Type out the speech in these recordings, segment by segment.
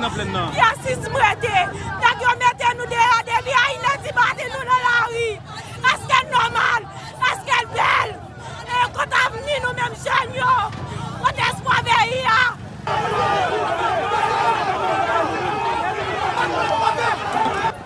nan plenn nan. Rasis m rete. Nèg yo mete nou deyò depi a inè di madi nou nan lari. Eske l nòmal? Eske l bèl? E kot avni nou menm jèn yo? Kot espwa peyi a?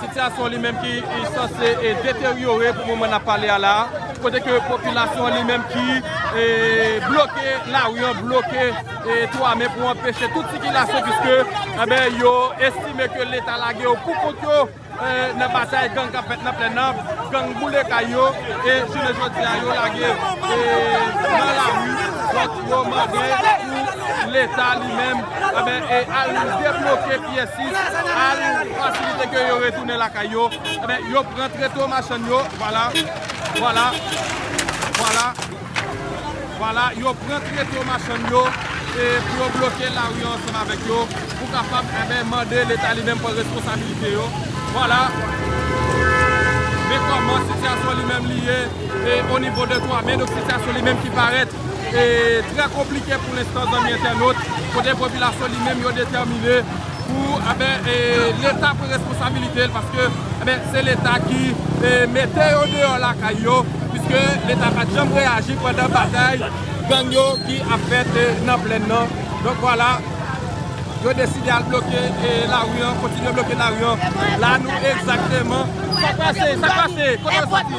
Sitiyasyon li menm ki sanse deteryore pou moman nap pale a la, kote ke popilasyon li menm ki bloke lari an, bloke 3 me pou anpeche tout sikilasyon puiske anben yo estime ke leta lage yo pou kont yo nan batay gang kap fèt nan plèn nan, gang boule kay yo e jounen jodi a yo lage nan lari donk yo mande pou leta li menm anben al debloke. Pièsis al fasilite ke yo retounen lakay yo, enben yo pran treto machann yo, vwala, vwala, vwala, vwala, yo pran treto machann yo e pou yo bloke lari an ansanm avèk yo pou kapab, enben, mande leta li menm pran responsabilite yo, vwala, men kòman sitiyasyon li menm li ye e onivo de twa men, donk sitiyasyon li menm ki parèt trè konplike pou lenstan zanmi entènot, kote popilasyon li menm yo detèmine pou leta pran responsabilite l paske se leta ki mete yo deyò lakay yo piske leta pat janm reyaji pandan batay gang yo ki ap fèt nan plèn nan donk vwala yo deside al bloke lari an kontinye bloke lari an la nou egzakteman. Sa k pase? Sa k pase? Kote l soti?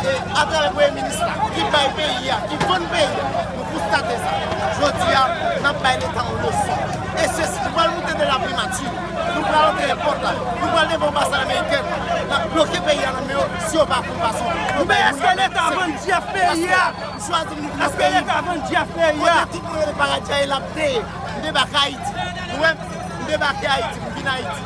Se atravè Premye Minis la ki bay peyi a, ki vann peyi a, nou konstate sa. Jodi a, n ap bay Leta yon leson. E se nou pral moute de la Primati, nou pral antre èpòt la, nou pral devan anbasad amerikèn, n ap bloke peyi a nan men yo si yo pa pran fason pou yo bay moun yo menm sekouris. Paske m chwazi m vin nan peyi m, kote tout moun rele paradi a e l ap neye. M debake Ayiti. Nou wè m? M debake Ayiti, m vin Ayiti.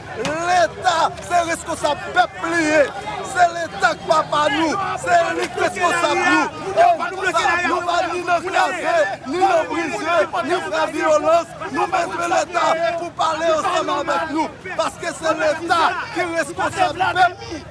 Leta se reskonsab pèp li ye, se leta k papa nou, se li k reskonsab nou. E nou pa ni nan kraze, ni nan brize, ni fè vyolans, nou bezwen leta pou pale ansanm avèk nou, paske se leta ki reskonsab pèp.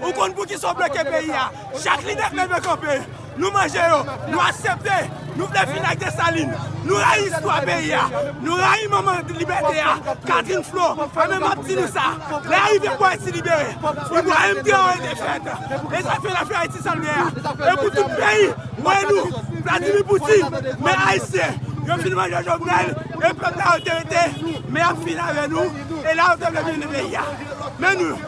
Ou konn poukisa w bloke peyi a? Chak lidè k leve kanpe, nou manje yo, nou asepte, nou vle fini ak Desalin, nou rayi istwa peyi a, nou rayi manman libète a, Katrin Flo, a men map di nou sa, lè a rive pou Ayiti libere, Ibrahim Traore defèt, e sa fè la fè Ayiti sa l ye a, e pou tout peyi wè nou, Vladimir Poutine, men Ayisyen, yo fin manje Jovenel, e pèp la yo te rete, men yap fini avè nou, e la yo te vle menmne peyi a. Men nou.